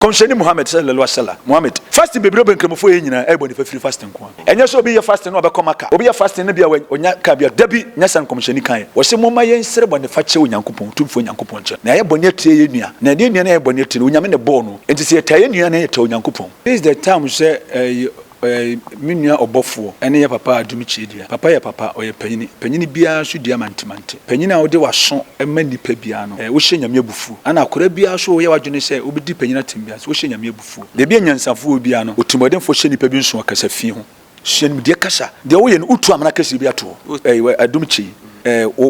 Kɔmhyɛni Muhammad sallallahu alaihi wasallam, Muhammad, fasting bebree a ɔbɔ Nkramofo yɛ nyinaa ɛyɛ bɔnefɛ firi fasting nko ara. Ɛnyɛ sɛ obi yɛ fasting na ɔbɛkɔ Makkah, obi yɛ fasting na bia ɔnya car bi a, dabi, nyɛ saa na Nkɔmhyɛni kaeɛ. Ɔse, Momma yɛnsrɛ bɔnefakyɛ wɔ Nyankopɔn, Otumfoɔ Nyankopɔn, nkyɛn, na yɛayɛ bɔne atia yɛn nua, na ɛnyɛ yɛn nua na yɛayɛ bɔne atia no, Onyame na ɛbɔɔ no, enti sɛ yɛtaa yɛn nua a na yɛtaa Onyankopɔn. This is the time sɛ ɛyɛ Ɔyɛ me nua ɔbɔfoɔ ne yɛ papa Adum Kyie dua. Papa yɛ papa, ɔyɛ panyini. Panyini biara nso dua mantemante. Panyini a wode w'aso ma nnipa biara no, wohyɛ Nyame abufuo. Ɛna akwadaa biara nso woyɛ w'adwene sɛ wobɛdi panyini atem biara nso, wohyɛ Nyame abufuo. Baabi a nyansafoɔ wɔ biara no, otirimuɔdenfoɔ hyɛ nnipa bi nso ɔkasa fii ho. Sua nimdeɛ kasa. Deɛ woyɛ no, wotu amena kɛseɛ bi ato hɔ. Adum Kyie,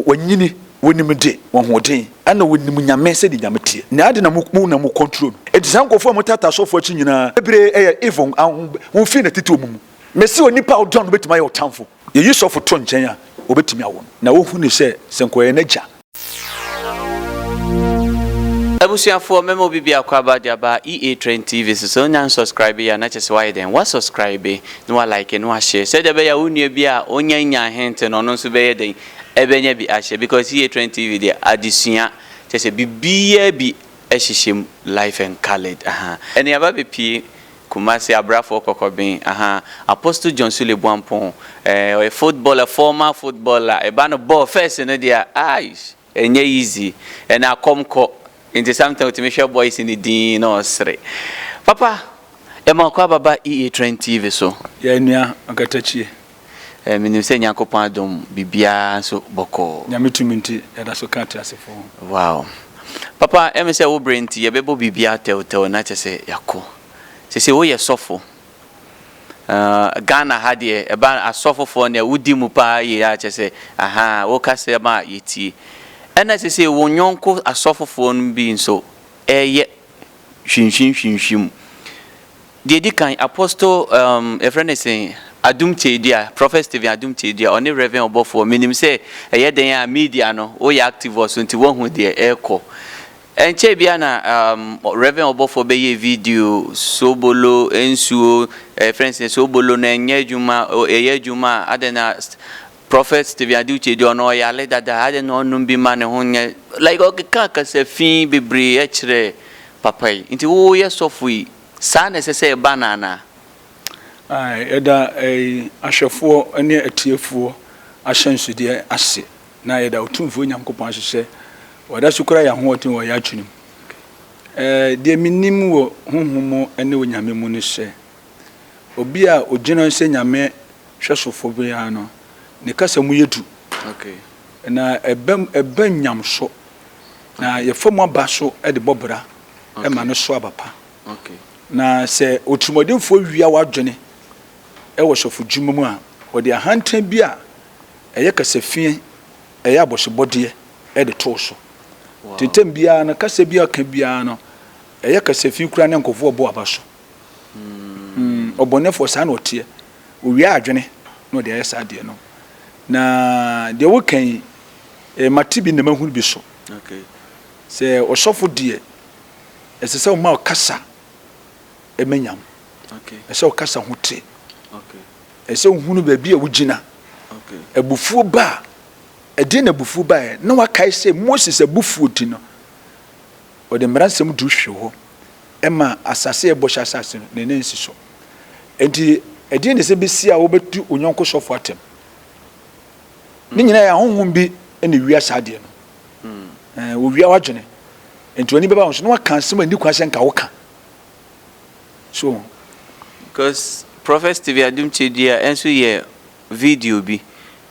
wanyini. Wɔnim de, wɔn ahoɔden, ɛna wɔnim Nyame sɛdeɛ Nyame teɛ. Na adɛn na mo mo na mo control no? Enti saa nkorɔfoɔ a wɔtaataa asɔfoɔ akyi nyinaa, bebree yɛ evil a wɔn wɔn firi na tete wɔn mu. Mese onipa a ɔdɔ no bɛtumi ayɛ wo tamfo. Yɛyi sɔfo to nkyɛn a, wɔbɛtumi awo no. Na wɔhu no sɛ sɛ nka ɔyɛ n'agya. Abusuafoɔ mɛma obi biako aba de aba EA Trend TV so. Sɛ wonya nsɔskraibeeɛ a na kyerɛ sɛ woayɛ dɛn? Woasɔskraibe, na woalaeke, na woahyɛɛ. Sɛdeɛ ɛbɛyɛ a wo nua bi a ɔnya nnya ahente no, ɔno nso bɛyɛ dɛn? ɛbɛnya bi ahyɛ because yie trend tv deɛ adesua kyerɛ sɛ biribiaa bi ɛhyehyɛ mu life and coloured ahaa ɛne aba bɛpie Kumasi abrafoɔ kɔkɔben ahaa Apostle John Sule Boampong ɛɛ ɔyɛ footballer former footballer ɛba no bɔɔl first no deɛ aaish ɛnyɛ easy ɛne akɔm kɔ nti sometimes ɔtumi hwɛ boys no dinn na ɔsere papa yɛma ɔkɔ aba ba EA trend tv so. Yɛn nua Ɔkatakyie. Menim sɛ Nyankopɔn adom biribiara nso bɔkɔɔ. Nyame tumi nti yɛda so ka ateasefo ho. Wow. Papa ɛyɛ me sɛ wo berɛ nti yɛbɛbɔ biribiara tɛwtɛw na kyerɛ sɛ yɛakɔ. Sesei woyɛ sɔfo. Ahh Ghana ha deɛ ɛba asɔfofoɔ no a wodi mu paa yie a kyerɛ sɛ ahaa wo kasɛm a yɛtie. Ɛna sesei wo nyɔnko asɔfofoɔ no bi nso ɛreyɛ hwimhwimhwimhwim. Deɛ ɛdi kan, Apostle um, yɛfrɛ no sɛn, Adum Kyei-Dua, Prophet Stephen Adum Kyei-Dua, ɔne Reverend ɔbɔfoɔ. Menim sɛ ɛyɛ dɛn a media no, woyɛ active wɔ so nti woahu deɛ ɛrekɔ. Ɛnkyɛe biara na um, Reverend ɔbɔfoɔ bɛyɛɛ video, soobolo, nsuo, eh, yɛfrɛ no sɛn, soobolo no ɛnyɛ adwuma, o, ɛyɛ adwuma a, adɛn na St- Prophet Stephen Adum Kyei-Dua ɔno ɔyare dada, adɛn na ɔnnom bi ma ne ho nyɛ, like ɔkeka kasa fi bebree kyerɛɛ papa yi. Nti woyɛ sɔfo yi, Saa na ɛsɛ sɛ ɛba no anaa? Ae, yɛda ahwɛfoɔ ne atiefoɔ ahyɛnsodeɛ ase, na yɛda Otumfoɔ Nyankopɔn ase sɛ Wada so kura yɛn ahoɔden wɔ yɛn adwene mu. Deɛ menim wɔ honhom mu ne Onyame mu ne sɛ, obi a ogyina sɛ Nyame hwɛsofoɔ biara no, ne kasa mu yɛ duru, na ɛba nnyamso. Na yɛfa mu aba so de bɔ bra ma no so aba pa. Na sɛ otirimɔdenfoɔ wia w'adwene wɔ sɔfodwuma mu a, ɔde ahantan bi a ɛyɛ kasafiɛ, ɛyɛ abɔsebɔdeɛ de to wo so. Nti ntɛm biara no, kasa bi a ɔka biara no, ɛyɛ kasafi koraa na nkurɔfoɔ rebɔ aba so. Ɔbɔnefoɔ, saa na ɔteɛ. Owia adwene na ɔde ayɛ saa adeɛ no. Na deɛ woka yi, Mate bi na mahunu bi so sɛ ɔsɔfo deɛ ɛsɛ sɛ ɔma ɔkasa ɛma nyam. Ɛsɛ sɛ ɔkasa ho te. Ɛsɛ sɛ ɔhunu baabi a wogyina. Abufuo ba a, ɛdeɛ na abufuo baeɛ? Na wakae sɛ Moses abufuo ti no, ɔde mmara nsɛm du hwee hɔ ɛma asase a ɛbɔhyɛ asase no, ne nan nsi so. Enti ɛdeɛ na ɛsɛ bɛsi a wobɛtu onyɔnko sɔfo atɛm? Ne nyinaa yɛ ahonhom bi na ewia saa adeɛ no. Ɛɛ wɔwia w'adwene. Nti w'ani bɛba wɔn so na wɔaka asɛm a ɛnni kwan sɛ nka woka. So ho. Because Prophet Stephen Adum Kyedua nso yɛ video bi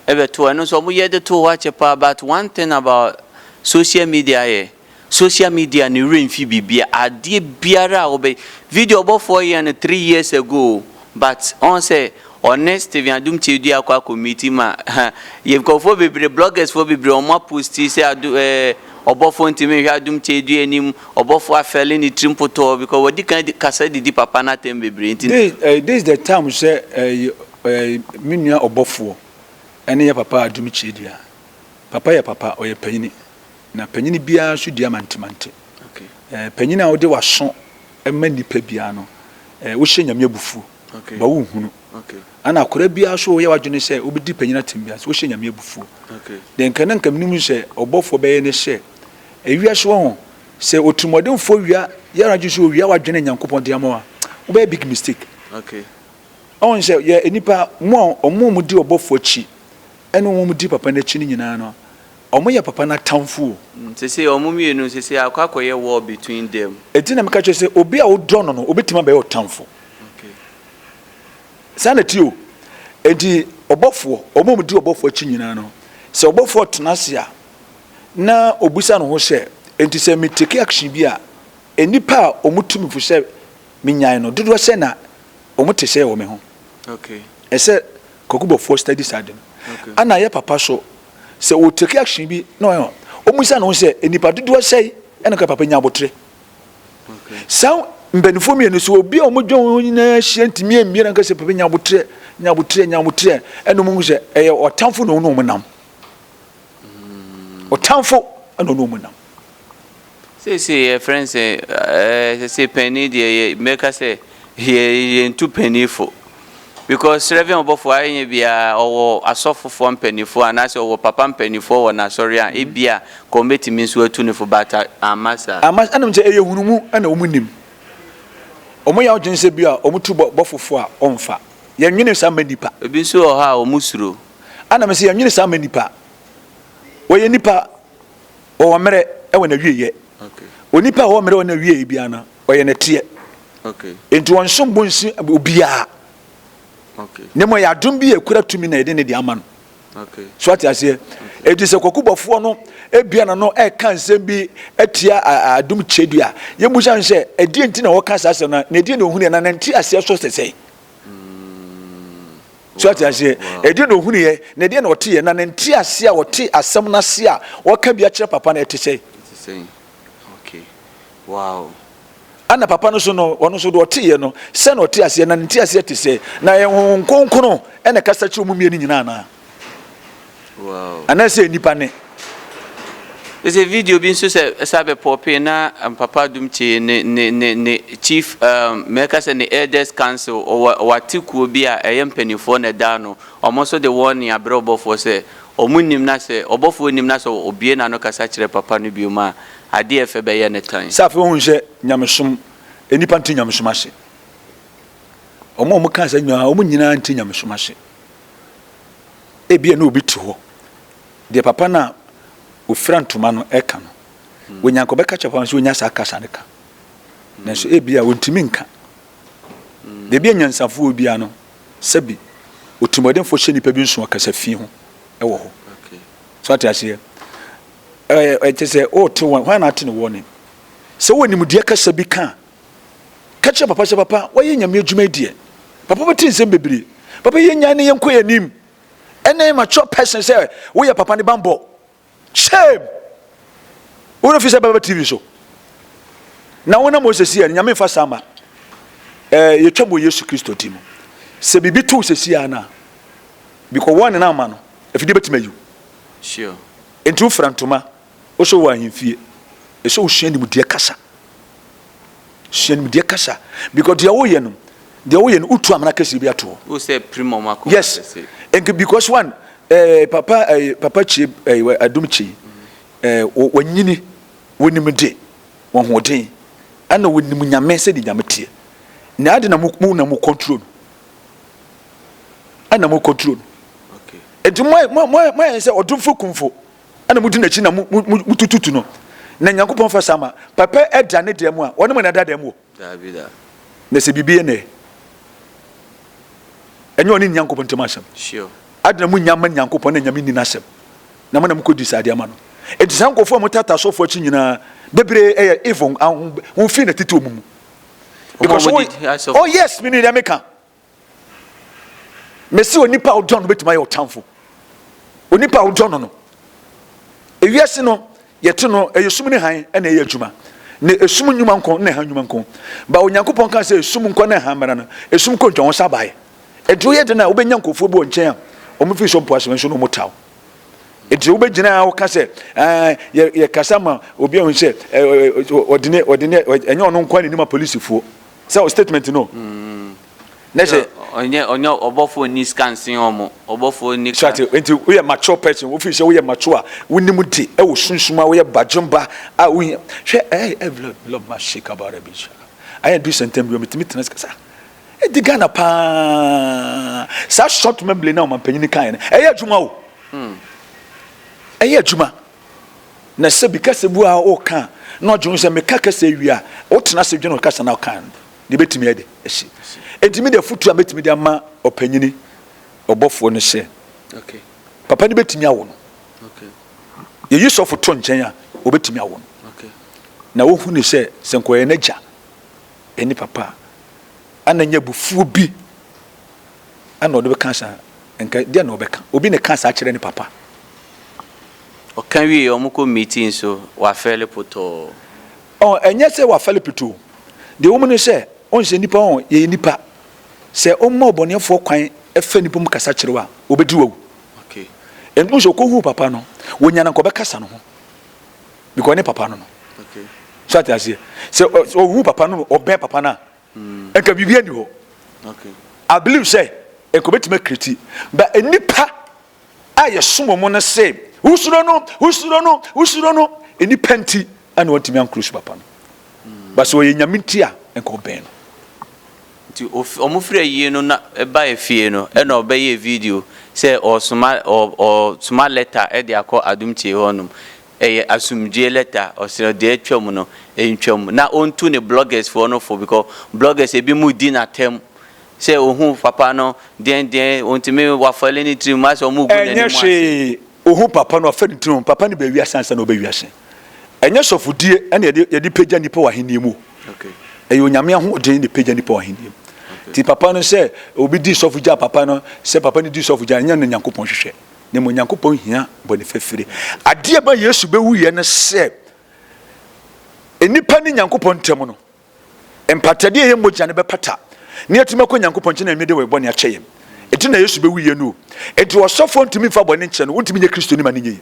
bɛtoo. Ɛno nso wɔyɛ de too hɔ akyɛ paa but one thing about social media yɛ. Social media ne werɛ mfi biribi a, adeɛ biara a wobɛ Video ɔbɔfoɔ yɛɛ no three years ago o but ɔhu sɛ ɔne Stephen Adum Kyerɛdua akɔ akɔ meeti ma ha yɛ nkurɔfoɔ bebree bloggers foɔ bebree wɔn a posti sɛ Adum ɛɛ ɔbɔfoɔ ntumi nhwɛ Adum Kyerɛdua anim ɔbɔfoɔ afɛle ne tiri mpotɔɔ because wadi kan adi kasa didi papa no atɛm bebree nti This ɛɛ this the time sɛ ɛɛ ɛɛ me nua ɔbɔfoɔ ɛne yɛ papa Adum Kyerɛdua papa yɛ papa ɔyɛ panyini. Na panyin biara nso dua mantemante. Panyin a wode w'aso ma nnipa biara no, wohyɛ Nyame abufuo. Ba wonhunu. Ana akwadaa biara nso woyɛ w'adwene sɛ wobɛdi panyin atem biara nso, wohyɛ Nyame abufuo. Deɛ nka na nka menim sɛ ɔbɔfoɔ bɛyɛ ne sɛ, ewiase wɔ ho, sɛ otirimuɔdenfoɔ wia yɛ anadwo sɛ owia w'adwene a Nyankopɔn de ama wo a, wobɛyɛ big mistake. Ɔhu sɛ yɛ nnipa, mo a wɔn a wɔdi ɔbɔfoɔ akyi ne wɔn a wɔdi papa no akyi no nyinaa no, Ɔmo yɛ papa no atamfo o. Mm sesei ɔmo mmienu sesei akɔ akɔyɛ war between them. Eti na meka kyerɛ sɛ obi a wo dɔ no no obetumi abɛyɛ wo tamfo. Okay. Saa na ɛte o. Enti ɔbɔfoɔ, wɔn a wɔdi ɔbɔfoɔ akyi nyinaa no, sɛ ɔbɔfoɔ tena ase a, na ɔbisa ne ho sɛ, Enti sɛ me take action bi a, nnipa a wɔtu me fo sɛ menyae no, dodoɔ sɛn na wɔte sɛɛ wɔ me ho? Okay. Ɛsɛ Kwaku Bɔfoɔ study saa ade no. Okay. Ɛna ɛyɛ papa so sɛ wɔ take action bi na ɔyɛ wɔn bisa ne ho sɛ nipa dodoɔ sɛn ɛna ka papa nya abotire saa mpanimfoɔ mmienu so obi a wɔn dwa wɔn nyinaa hyia ntumi mmie na nka sɛ papa nya abotire nya abotire nya abotire ɛna wɔn sɛ ɛyɛ ɔtanfo na wɔn na wɔn nam ɔtanfo ɛna wɔn na wɔn nam. Seesei yɛfrɛ no sɛ seesei panyin deɛ yɛ mɛka sɛ yɛ yɛntu panyin fo because srɛvɛn ɔbɔfo ayɛ nyɛ bia ɔwɔ asɔfofoɔ mpanimfoɔ anaasɛ ɔwɔ papa mpanimfoɔ wɔ n'asɔre a ebia ka wɔn bɛtumi nso atu no fo but amma saa. Amma ɛna menim sɛ ɛyɛ nhunumu ɛna wɔn nim wɔn yɛ adwene sɛ bia wɔn tu bɔ bɔfo fo a wɔnfa yɛn nwene saa mma nipa. Ebi nso wɔ hɔ a wɔn suro. Ɛna mesɛ yɛn nwene saa mma nipa wɔyɛ nipa ɔwɔ mmerɛ wɔ n'awieɛ. Onipa a ɔwɔ mmerɛ wɔ n'awieɛ biara no, ɔyɛ nɛteɛ. Enti wɔn som bo nsi obiara. Ne mmɔ ɛyɛ adom bi a ɛkura tumi na yɛde ne de ama no. So ate aseɛ? Enti sɛ kwakubɔfoɔ no ebia na no ɛka nsɛm bi atia adom kyɛdua. Yɛmmusa no sɛ, ɛdeɛ nti na wɔka saa asɛm no? Na ɛdeɛ na ɔhunu na nante aseɛ so sɛ sɛn? So ate aseɛ? Ɛdeɛ na ɔhunuiɛ, na ɛdeɛ na ɔteeɛ, na ne nteaseɛ a ɔte asɛm no ase a ɔka bi akyerɛ papa no, ɛte sɛn? Ɛna papa no nso no, ɔno nso deɛ ɔteeɛ no, sɛ na ɔte aseɛ, na ne nteaseɛ te sɛn? Na ɛyɛ Honhom Kronkron na ɛkasa kyerɛ wɔn mmienu nyinaa anaa? Anaasɛ nnipa ne. Sɛ video bi nso sɛ ɛsa bɛ pɔpee na um, Papa Adum Kyee ne ne ne ne chief um, mɛka sɛ ne elders council ɔwɔ ɔwɔ atekuo bi a ɛyɛ mpanimfoɔ na ɛda ano wɔn nso de wɔn ne abrɛ ɔbɔfoɔ sɛ wɔn nim na sɛ ɔbɔfoɔ nim na sɛ obie n'ano kasa kyerɛ Papa no bio ma adeɛ ɛfɛ bɛyɛ ne tan. Sɛ afei wɔn sɛ nyamesom nnipa nte nyamesom ase wɔn a wɔn kaa sɛ nyinaa wɔn nyinaa nte nyamesom ase. ebia na obi te hɔ, deɛ papa no a ɔfira ntoma no reka no, wɔnya nka ɔbɛka kyerɛ papa no sɛ ɔnya saa kasa no ka, nanso ebia ɔntumi nka. Baabi a nyansafoɔ biara no, sɛbi otirimɔdenfoɔ hyɛ nnipa bi nso ɔkasa fi ho wɔ hɔ. So ate aseɛ? Ɛkyɛ sɛ ɔte wɔn, hwan na ate ne wɔne? Sɛ wɔn nimdeɛ kasa bi ka Ka kyerɛ papa sɛ, Papa, woayɛ Nyame adwuma yi deɛ. Papa bɛte nsɛm bebree. Papa yɛ nyan ne yɛnkɔ yɛn anim. Ɛnɛ mature person sɛ woyɛ papa ne banbɔ. Shame! Wo werɛ fi sɛ bɛba TV so. Na wo na mo sɛsi yɛ no, Nyame mfa saa ma. Eh, yɛtwam wɔ Yesu Kristo din mu. Sɛ biribi to wo sɛsi yɛ no a, bikɔ warning ama no, afidie bɛtumi ayi wo. Sure. Enti wofira ntoma, Wosɔ wɔ ahemfie, ɛsɛ sɛ wosua nimdeɛ kasa. Sua nimdeɛ kasa because deɛ woyɛ no, deɛ woyɛ no wotu amena kɛseɛ bi ato hɔ. Wosɛ pirim wɔn akoma yes. kɛse. Yes, because one, eh, papa, eh, papa kye, eh, adum kye, eh, wanyini, wanim de, wahoɔden, ɛna wanim nyame sɛ de nyame teɛ. Na ade na mo na mo control no. Ɛna mo control no. Okay. Enti mo mo mo ayɛ sɛ ɔdomfo kumfo. ɛna modi n'akyi na motututu no, na Nyankopɔn fa saa ma, papa da ne dɛm a, ɔne mo na ɛda dɛm wɔ? Daabi da. Na sɛ biribi yɛ no ɛ? Ɛnyɛ ɔne Nyankopɔn ntam asɛm. Sure. Adena mo nya ma Nyankopɔn na Nyame nni n'asɛm. Na mo na mokɔdi saa adeɛ ama no. Enti saa nkurɔfoɔ a motata asɔfoɔ akyi nyinaa, bebree ɛyɛ evil, ahonhom, wɔmfiri n'atete wɔn mu. Because, oh yes, menim deɛ meka. mesi onipa a wodɔ no betumi ayɛ ɔtamfo onipa a wodɔ no no ewiase no yɛte no ɛyɛ sum ne han ɛna ɛyɛ adwuma na esum nnwuma nko na ɛhan nnwuma nko ba onyankopɔn kan sɛ esum nko na ɛhan mmara no esum kɔ ntwa wɔn sa baeɛ ɛdeɛ ɔyɛ den a wobɛnya nkurɔfoɔ bi wɔ nkyɛn a wɔn fi so mpo asɛm nso na wɔn taw ɛdeɛ wobɛgyina a wɔka sɛ yɛkasa ma obi ahun sɛ ɔdene ɔdene ɛnyɛ ɔno nko a n'anim apolisifoɔ Sɛ o statement no na hyɛ. Ɔnyɛ ɔnyɛ ɔbɔfo nni sika nsen wɔn ɔbɔfo nni kan. Sate nti woyɛ mature person wofi sɛ woyɛ mature a wonim de ɛwɔ sunsum a woyɛ badwemba a wohia hwɛ ɛɛ ɛvlɔ vlɔ ma shake about a bit sha ayɛ do sɛntɛm bi wɔ metumi tena sika sa ɛdi Ghana paa saa short memory na ɔmanpanyin kan no ɛyɛ adwuma o ɛyɛ adwuma. Na sɛ bi kasa bu a woka a, na ɔdwene ho sɛ, meka kasa yi wie a, wotena ase dwene kasa no a woka no ho, deɛ ɛbɛtumi ayɛ dɛ asi. Enti me deɛ afotuo a mɛtumi de ama ɔpanyini ɔbɔfoɔ ne sɛ, papa no bɛtumi awo no. Yɛyi sɔfo to nkyɛn a, ɔbɛtumi awo no. Na wohu ne sɛ, sɛ nka ɔyɛ n'agya ne papa a, ana nyɛ abufuo bi ɛna ɔde bɛka saa nka deɛ na ɔbɛka obi na ɛka saa kyerɛ ne papa. Ɔka wie wɔn kɔ meeting so wafɛle potɔɔ. Ɔ ɛnyɛ sɛ wafɛle potoo deɛ wɔn ne sɛ ɔnhyɛ nipa ɔ yɛyɛ nipa sɛ wɔn ma ɔbɔneɛfoɔ kwan ɛfɛ nipa mu kasa kyerɛ wo a ɔbɛdi wawu. Okay. Ɛnti nso ɔkɔ hu papa no wɔnya na nka ɔbɛkasa no ho because ne papa no no. Okay. So ate aseɛ sɛ ɔhu papa no ɔbɛn papa no a nka biribi ani hɔ i believe sɛ nka obetumi akiriti ba nnipa a yɛsom wɔn no se wosuro no wosuro no wosuro no nnipa nti ɛna wɔntumi ankoro su papa no ba sɛ ɔyɛ nyame nti a nka ɔbɛn no nti ɔmo firi ayie no na ɛba efie no ɛna ɔbɛyɛ video sɛ ɔsoma ɔsoma lɛta ɛde akɔ adum tie hɔ nom Ɛyɛ asomdwie lɛta ɔsrɛ deɛ atwam no ntwam na ɔntu ne bloggers foɔ no fo because bloggers ebi mo di no atɛm sɛ ɔhu papa no deɛn deɛn ɔntumi wafɛle ne tirim asɛ ɔmo gu n'anim ase. Ɛnyɛ hwee ɔhu papa no wafɛle ne tirim papa no baa wiase ansa na ɔba wiase ɛnyɛ sɔfodie ɛna yɛde pagya nnipa wɔ ahennie mu ɛyɛ onyame ahoɔden na ɛpagya nnipa wɔ ahennie mu nti papa no sɛ obi di sɔfo gyaa papa no sɛ papa no di sɔfo gyaa ɛnyɛ no na Nyankopɔn hwehwɛ. na mmom Nyankopɔn hia bɔne fafiri. Adeɛ ɛma Yesu bɛwuiɛ no sɛ nnipa ne Nyankopɔn ntam no, mpatadeɛ yɛ mogya no bɛpata na yɛatumi akɔ Nyankopɔn nkyɛn na yɛmede wɔn bɔne akyɛ yɛn. Ɛti na Yesu bɛwuiɛ no o. Ɛti ɔsɔfoɔ ntumi mfa bɔne nkyɛ no, wontumi nyɛ Kristo ni ma no nyɛ yi.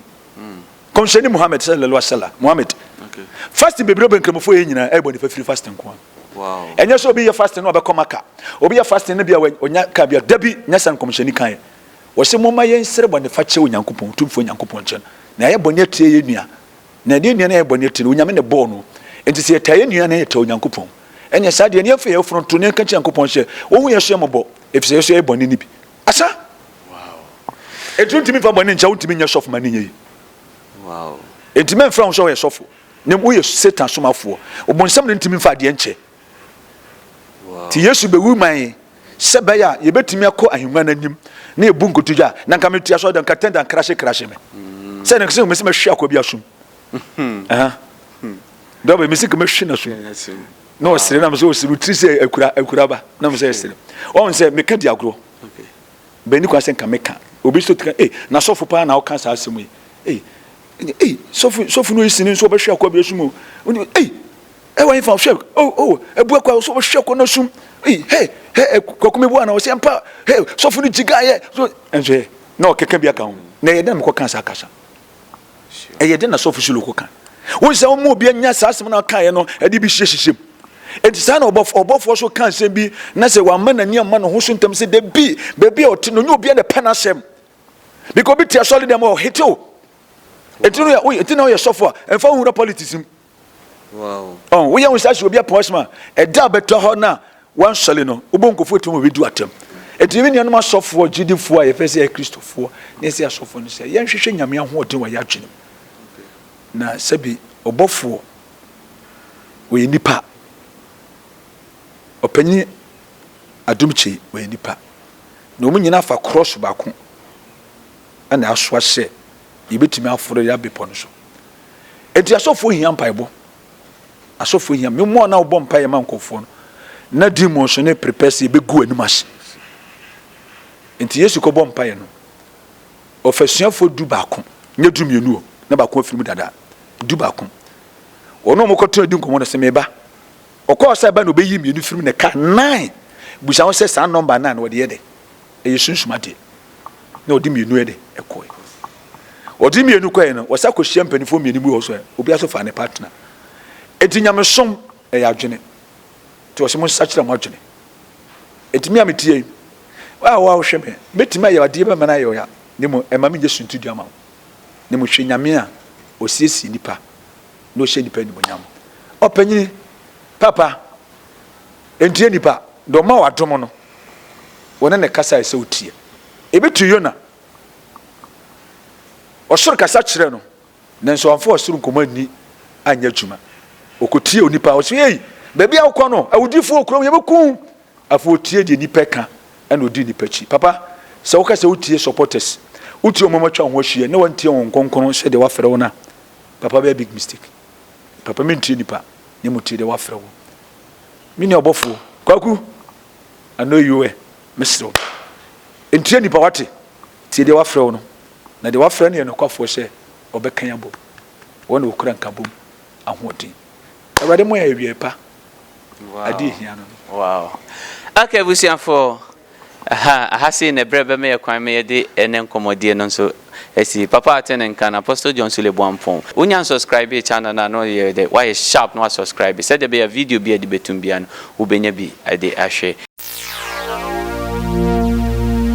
Kɔmhyɛni Muhammad sallallahu alaihi wasallam Muhammad okay. fasting bebree bɛ nkramofoɔ yɛ nyinaa ɛyɛ bɔ nifa firi fasting nko wow. ɛnyɛ sɛ obi yɛ fasting na ɔbɛkɔ maka obi yɛ fasting no bi a ɔnya ka bi a dabi nyɛ sɛ nkɔmhyɛni kan yɛ Wɔse momma yɛnsrɛ bɔnefakyɛ Onyankopɔn, Otumfoɔ Nyankopɔn nkyɛn, na yɛayɛ bɔne atia yɛn nua, na yɛne yɛn nua no ayɛ bɔne atia no, Onyame na ɛbɔɔ no, enti sɛ yɛtaa yɛn nua a na yɛtaa Onyankopɔn, ɛneɛ saa deɛ na yɛmfa yɛn ayeforo nto, na yɛnka nkyerɛ Nyankopɔn sɛ Ɔnhu yɛn so yɛn mmɔbɔ, efisɛ yɛn nso yɛayɛ bɔne no bi. Asa! Enti wontumi mfa bɔne nkyɛ, wontumi nyɛ sɔfo ma no nyɛ yie. Enti mɛmfrɛ wo sɛ woyɛ sɔfo, na mmom woyɛ Satan somafoɔ, Ɔbonsam na wontumi mfa adeɛ nkyɛ. Nti Yesu bɛwu maa yɛn sɛ ɛbɛyɛ a yɛbɛtumi akɔ ahengua no anim na yɛbu nkotodwe a na nka mete asɔre dan katɛn dan krahye krahye me sɛ ne sɛ mesi mɛhwe akɔ bi asom dɔbɛ mesi nka mɛhwe no asom na ɔsere nam sɛ ɔsere tiri sɛ akura akura ba na mo sɛ ɛsere ɔn sɛ meka di agorɔ bɛni kwan sɛ nka meka obi so tika eh na sɔfo paa na ɔka saa asɛm yi eh eh sɔfo sɔfo no yi sini nso ɔbɛhwe akɔ bi asom o eh Ɛwɔ he fa ɔhwɛ oh oh ɛbua kwa ɔsɛ ɔhwɛ kɔ no sum hey hey hey kɔkɔ mi bua na ɔsɛ mpa hey sɔfo no gyiga yɛ so ɛnso yɛ na ɔkeka bi aka ho na ɛyɛ dɛ na mekɔ kan saa kasa ɛyɛ dɛ na sɔfo solo kɔ kan wɔn sɛ wɔn mu obi anya saa asɛm na ɔka yɛ no ɛde bi hyehyɛ hyehyɛ mu eti saa na ɔbɔfo ɔbɔfoɔ so ka nsɛm bi na sɛ wama n'ani ama ne ho so ntɛm sɛ debi beebi a ɔte no nye obi a na pɛ n'asɛm biko bi te asɔre dɛm ɔhete o eti no yɛ eti na ɔyɛ sɔfo a ɛnfa ohun na politics mu. Wow. Ɔn woyɛ ho saa si obi apɔn asɛm a ɛda a bɛtɔ hɔ na wansɔle no wobɔ nkofo atum obi du atɛm. Eti me nuanom asɔfoɔ gyidifoɔ a yɛfɛ sɛ yɛ kristofoɔ na yɛsɛ asɔfoɔ no sɛ yɛnhwehwɛ Nyame ahoɔden wɔ yɛ adwenem. Na sɛbi ɔbɔfoɔ wɔyɛ nipa. Ɔpanyin Adomkye wɔyɛ nipa. Na wɔn nyinaa fa krɔs baako ɛna asoa sɛ yɛbɛtumi aforo yɛ abepɔ no so. Enti asɔfoɔ hia mpaebɔ. Asɔfoɔ hia me mmoa na wobɔ mpaeɛ ma nkɔfoɔ no na demons ne prepɛseɛ bɛgu anim ase. Enti Yesu kɔbɔ mpaeɛ no ɔfa asuafoɔ du baako nyɛ du mmienu o na baako afiri mu dada du baako wɔn a wɔkɔtena di nkɔmmɔ no sɛ meba Ɔkɔɔ sɛ ɛbɛyɛ na ɔbɛyi mmienu firi mu na ɛkaa nnan. Bisa ho sɛ, saa nɔmba nnan no wɔde yɛ dɛn? Ɛyɛ sunsum adeɛ. Na ɔde mmienu yɛ dɛn? Kɔeɛ. Ɔde mmienu kɔeɛ no, ɔsan kɔhyia mpanimfoɔ mmienu bi wɔ hɔ nso ɛ, obiara nso faa ne partner. Enti nyamesom yɛ adwene. Nti wɔse monsakyera mo adwene. Enti me a mete ha yi, wo a wo a wohwɛ me, mɛtumi ayɛ adeɛ bi ama no ayɛ wo ya, na mmom ɛmma menyɛ suntidua mma wo. Na mmom hwɛ Nyame a ɔsiesie nnipa Na ɔhyɛ nnipa animuonyam. Ɔpanyin, papa, ntie nnipa, deɛ ɔma wadom no, wɔne ne kasa a ɛsɛ wotie. Ebi te Yona. Ɔsoro kasa kyerɛ no, nanso wamfa ɔsoro nkɔmmɔ anni anyɛ adwuma. Ɔkɔtie onipa, ɔsɛ ei, baabi a wokɔ no, awudifoɔ kurom, yɛbɛku wo. Afei ɔtie deɛ nnipa ka, ɛna ɔdi nnipa akyi. Papa, sɛ woka sɛ wotie supporters, wotie wɔn a wɔatwa wo ho ahyia, na wantie wɔn nkronkron sɛdeɛ wafrɛ wɔn a, Papa bɛyɛ big mistake papa mentie nipa na mmom tie deɛ wafrɛ wo me nua ɔbɔfoɔ kwaku I know you well mesrɛ wo ntie nipa wate tie deɛ wafrɛ wo no na deɛ wafrɛ no yɛ nokwafoɔ sɛ ɔbɛkan abom wɔn na wɔkura nkabom ahoɔden awurade mo yɛ awieɛ pa ade ɛhia no no. Wow. Okay, busuafoɔ, Aha aha sei na berɛ bɛma yɛ kwan ma yɛde ɛnɛ nkɔmmɔdie no nso asi. Papa ate ne nka no, Apostle John Sule Boampong. Wo nya unsubscribee channel no a na woyɛ dɛ woayɛ sharp na wa subscribe sɛdeɛ ɛbɛyɛ a video bi a yɛde bɛtum biara no wobɛnya bi de ahwɛ.